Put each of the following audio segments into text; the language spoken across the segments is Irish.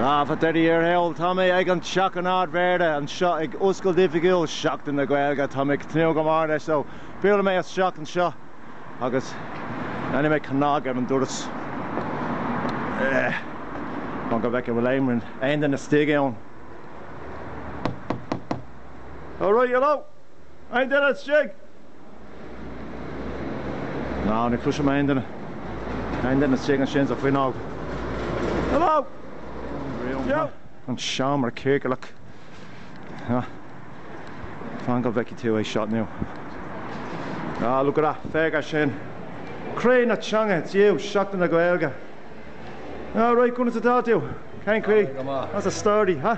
Ah, faoi dheireadh thiar thall, tá mé ag an Teach an Ardmhéara anseo ag oscailt oifigiúil Sheachtain na Gaeilge. Tá mé ag tnúth go mór leis, so buailfidh mé isteach anseo agus déanfaidh mé cnag ar an doras chun go bhfeicfidh an bhfuil aon duine istigh ann. All right, hello! Aon duine istigh? No, ní chloisim aon duine. Aon duine istigh ansin sa fuinneog? Hello! Yeah! An seomra ciorclach. Ah. Fan go bhfeicfidh tú é seo now. Ah, look at that, féach air sin. Croí na teanga, it's you, Seachtain na Gaeilge. All right, conas atá tú? Cén chaoi? What's the story, huh?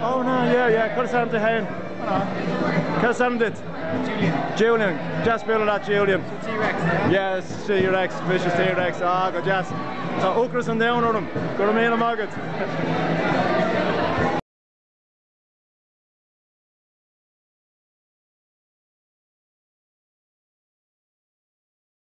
Oh no yeah yeah cur san de hain Cur san dit Julian Jas be a Julian Yes sé Rex mis sé Rex a go jazz Tá ócras an déan orm go mé a mágad.